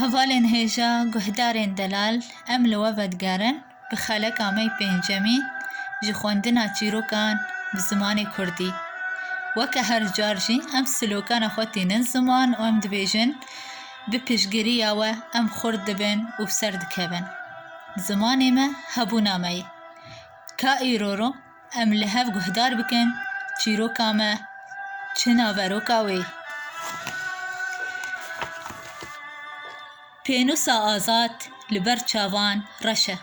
Hevalên hêja guhdarên delal em li we vedigerin bi xeleka me yê pêncemî ji xwendina çîrokan bi zimanê kurdî. Weke her car jî em slokana xwe tînin ziman û em dibêjin bi piştgiriya we em xurt dibin û bi ser dikevin. Zimanê me hebûna me yê. Ka îro ro Em li hev guhdar bikin çîroka me çi naveroka wê. Pênûsa azad li ber çavan reş e.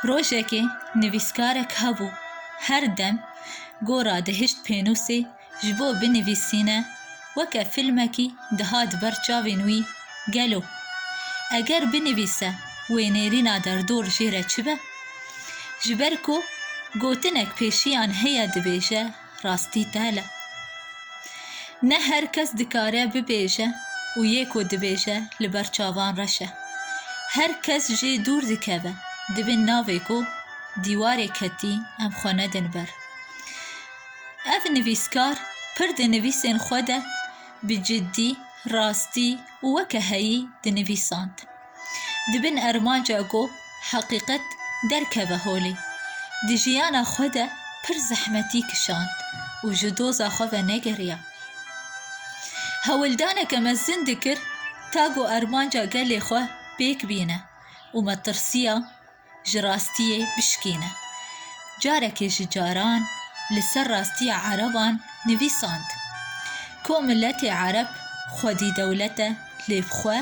Rojekê nivîskarek hebû her dem gora dihişt pênûsê Ji bo binivîsîne weke fîlmekî dihat ber çavên wî gelo eger binivîse wê nêrîna derdor jê re çi be? Ji ber ku gotinek pêşiyan heye dibêje rastî tel e. Ne her kes dikare bibêje û yê ku dibêje li ber çavan reş e. Her kes jê dûr dikeve di bin navê ku dîwarê ketî em xwe nedin ber. Ev nivîskar pir di nivîsên xwe de bi ciddî, rastî û weke heyî dinivîsand. Di bin armanca ku heqîqet derkeve holê, di jiyana xwe de pir zehmetî kişand û ji doza xwe ve negeriya. Hewildaneke mezin dikir ta ku armanca gelê xwe pêk bîne û me tirsiya, ji rastiyê bişkîne. Carekê ji caran li ser rastiya ereban nivîsand ku miletê ereb xwedî dewlet e lê bi xwe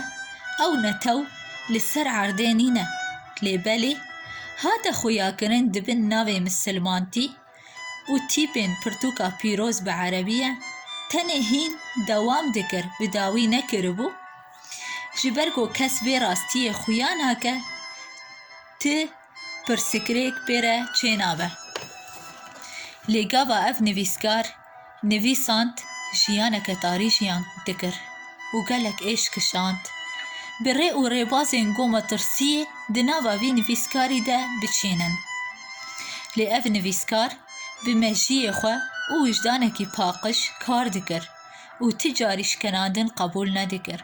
ew netew li ser erdê nîne lê belê hate xuyakirin di bin navê misilmantî û tîpên pirtûka pîroz bi erebî ye, tenê hîn dewam dikir bi dawî nekiribû, ji ber ku kes vê rastiyê xuya nake, ti pirsikirêk pê re çênabe. Lê gava ev nivîskar. Nivîsand jiyaneke tarî jiyan dikir û gelek êş kişand. Bi rê û rêbazên Goma Tirsiyê di nava vî nivîskarî de biçînin. Lê ev nivîskar bi mejiyê xwe û wijdanekî paqij kar dikir û ti carî şkenandin qebûl nedikir.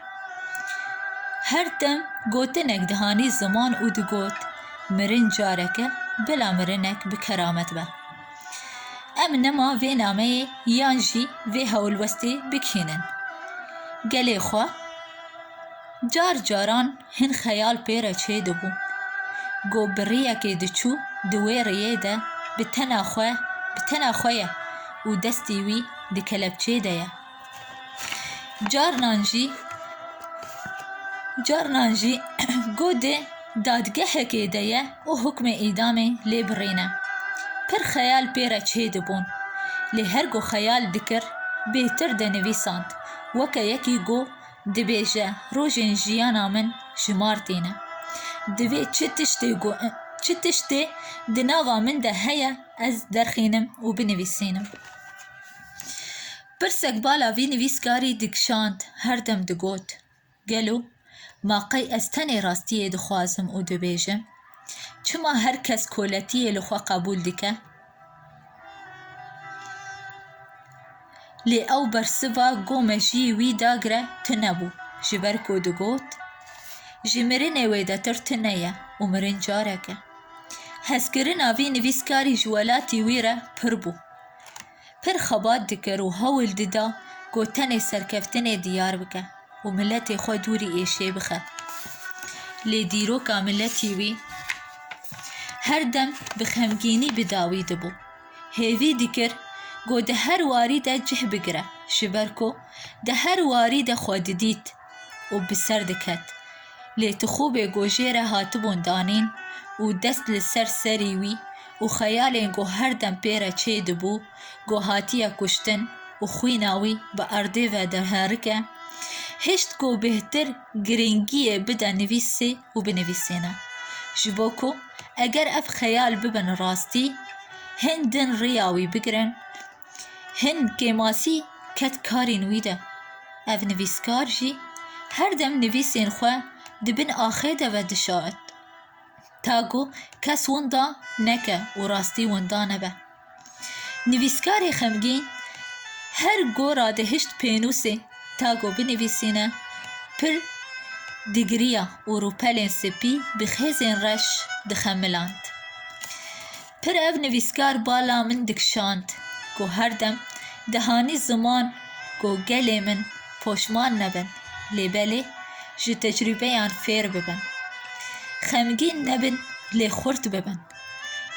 Her dem gotinek dihanî ziman û digot, Mirin careke bila mirinek bi keramet be. Em nema vê nameyê yan jî vê hewlwestê bikînin. Gelê xwe car caran hin xeyal pê re çêdibû. Go bi riyekê diçû di wê riyê de bi tena xwe bi tena xwe ye û destî wî di kelepçê de ye. Carinan jî carinan jî godê dadgehekê de ye û hukmê îdamê lê birîne. Pir xeyal pê re çêdibûn. Lê her ku xeyal dikir bêtir dinivîsand. Weke yekî got dibêje rojên jiyana min ji mar tîne. Divê çi tiştê ku çi tiştê di nava min de heye ez derxînim û binivîsînim. Pirsek bala vî nivîskarî dikişand, her dem digot, Gelo ma qey ez tenê rastiyê dixwazim û dibêjim? Çima her kes koletiyê li xwe qebûl dike? Lê ew bersiva ku mejiyî wî dagire tune bû, ji ber ku digot, Ji mirinê wêdetir tune ye û mirin carek e. Hezkirina vî nivîskarî ji welatî wî re pir bû. pir xebat dikir û hewl dida ku tenê serkeftinê diyar bike û miletê xwe dûrî êşê bixe. Lê dîroka miletî wî her dem bi xemgînî bi dawî dibû. Hêvî dikir ku di her warî de cih bigire ji ber ku di her warî de xwe didît. û bi ser diket. Lê Tixûbê ku jê re hatibûn danîn û dest li ser serî wî û xeyalên ku her dem pê re çê dibû ku hatiye kuştin û xwîna wî bi erdê ve derherike, hişt ku bêhtir girîngiyê bide nivîsê û binivîsîne. Ji bo ku eger ev xeyal bibin rastî, hin din riya wî bigirin, Hin Kêmasî ket karên wî de. Ev nivîskar jî her dem nivîsên xwe di bin axê de ve dişart. Ta ku kes winda neke û rastî winda nebe. Nivîskarê xemgîn her gora dihişt pênûsê ta ku binivîsîne pir digiriya û rûpelên spî bi xêzên reş dixemiland. Pir ev nivîskar bala min dikişand ku her dem dihanî ziman ku gelê min poşman nebin lê belê ji tecrûbeyan fêr bibin, xemgîn nebin lê xurt bibin,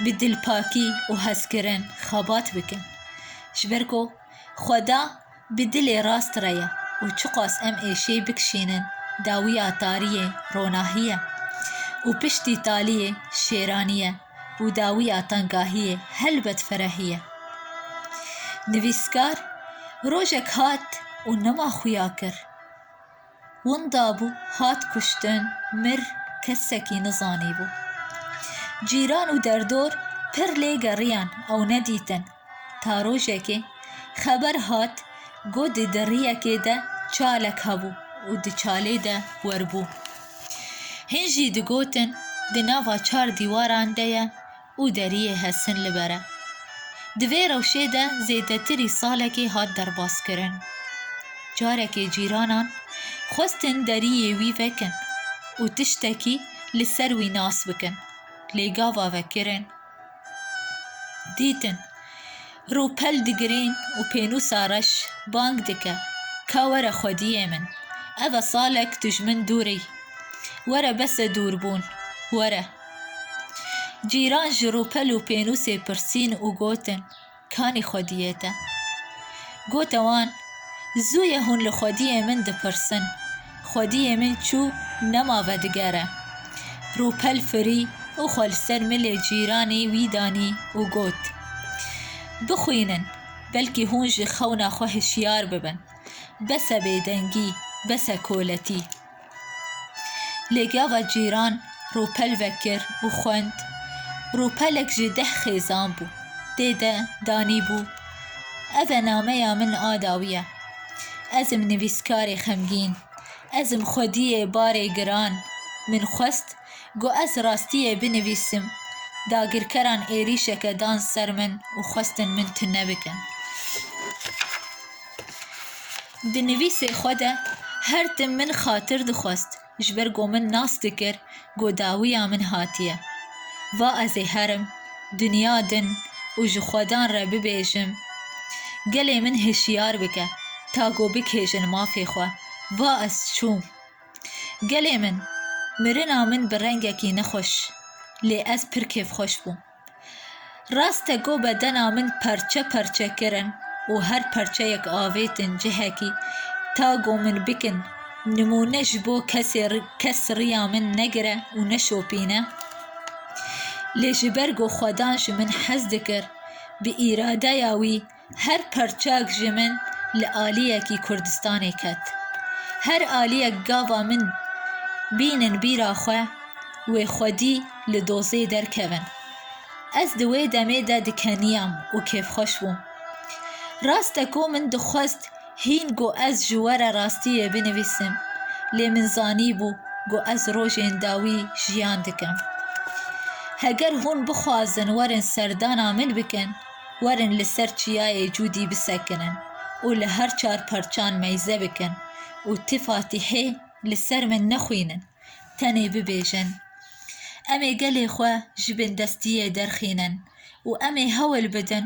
bi dilpakî û hezkirin xebat bikin. Ji ber ku xweda. Bi dilê rast re ye û çiqas em êşêy bikişînin dawiya tariyê ronahî ye û piştî taliyê şêranî ye û dawiya tengahiyê helbet ferehî ye. Nivîskar rojek hat û nema xuya kir. Winda bû, hat kuştin, mir, kesekî nizanîbû. Cîran û derdor pir lê geriyan ew nedîtin. Ta rojekê xeber hat ku di deriyekê de çalek hebû û di çalê de werbû. Hin jî digotin di nava çar dîwaran de ye û deriyê Hesin li ber e. Di vê rewşê de zêdetirî salekê hat derbaskirin. Carekê cîranan xwestin deriyê wî vekin û tiştekî li ser wî nas bikin, lê gava vekirin. Dîtin rûpel digirên û pênûsa reş bang dike, Ka were xwediyê min, ev e salek tu ji min dûr î. Were bes e dûrbûn, were. Cîran ji rûpel û pênûsê pirsîn û gotin, Kanî xwediyê te? Gote wan, Zû ye hûn li xwediyê min dipirsin. Xwediyê min çû, nema vedigere. Rûpel firî û xwe li ser milê cîranî wî danî û got, Bixwînin, belkî hûn ji xewna xwe hişyar bibin. Bes e bêdengî, bes e koletî. Lêgeava cîran ropel vekir û xwend. Ropelek ji deh xêzan bû. Tê de danîbû, Ev e nameya min a dawî ye. Ez im nivîskarê xemgîn. Ez im xwediyê barê giran. Min xwest ku ez rastiyê binivîsim. Dagirkeran êrîşeke dan ser min û xwestin min tune bikin. Di nivîsê xwe de her tim min xatir dixwest ji ber ku min nas dikir ku dawiya min hatiye. Va ez ê herim, dinya din û ji xwedan re bibêjim gelê min hişyar bike ta ku bikêjin mafê xwe. Va ez çûm. Gelê min, mirina min bi rengekî nexweş lê ez pir kêfxweş bûm. Rast e ku bedena min parçe parçe kirin û her parçeyek avêtin cihekî ta ku min bikin nimûne ji bo kesê kes riya min negire û neşopîne. Lê ji ber ku xwedan ji min hez dikir bi îradeya wî Her parçeyek ji min li aliyekî Kurdistanê ket. Her aliyek gava min bînin bîra xwe wê xwedî li dozê derkevin. Ez di wê demê de dikeniyam û kêfxweş bûm. Rast e ku min dixwest hîn ku ez ji we re rastiyê binivîsim, lê min zanîbû ku ez rojên dawî jiyan dikim. Heger hûn bixwazin werin serdana min bikin, Werin li ser çiyayê Cûdî bisekinin û li her çar parçan meyze bikin û ti Fatîhê li ser min nexwînin, tenê bibêjin, Em ê gelê xwe ji bindestiyê derxînin û em ê hewl bidin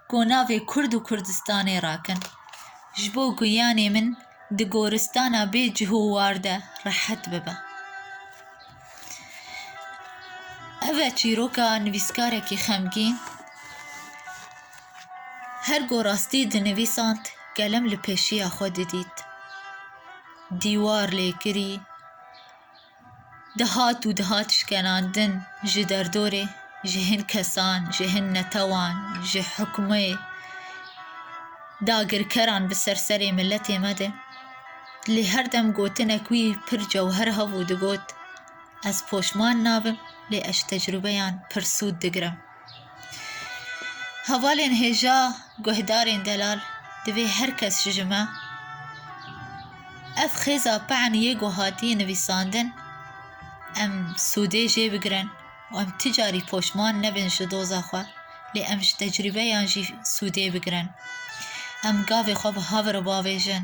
ku navê Kurd û Kurdistanê rakin. Ji bo giyanê min di goristana bê cih û war de rehet bibe. Ev e çîroka nivîskarekî xemgîn. Her ku rastî dinivîsand kelem li pêşiya xwe didît. Dîwar lêkirî dihat û dihat şkenandin ji derdorê, ji hin kesan, ji hin netewan, ji hikûmê, dagirkeran bi ser serê miletê me de. Lê her dem gotinek wî pir cewher hebû digot, Ez poşman nabim, lê ez ji tecrûbeyan pir sûd digirim. Hevalên hêja guhdarên delal divê her kes ji ji me ev xêza pe'en yê ku hatiye nivîsandin em sûdê jê bigirin û em ti carî poşman nebin ji doza xwe, lê em ji tecrûbeyan jî sûdê bigirin. Em gavê xwe bi hav re bavêjin.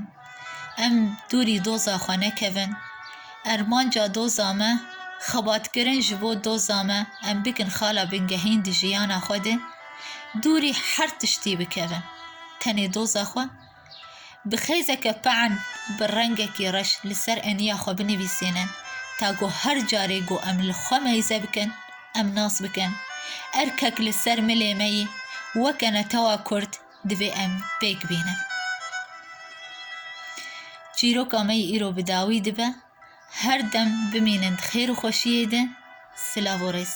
Em dûrî doza xwe nekevin. Armanca doza me, xebatkirin ji bo doza me, em bikin xala bingehîn di jiyana xwe de. Dûrî her tiştî bikevin. Tenê doza xwe. Bi xêzeke pe'en, bi rengekî reş li ser eniya xwe binivîsînin ta ku her carê ku em li xwe meyze bikin, em nas bikin. Erkek li ser milê me yî, weke netewa Kurd Divê em pêk bînin. Çîroka me yî îro bi dawî dibe. Her dem bimînin di xêr û xweşiyê de. Silav û rêz.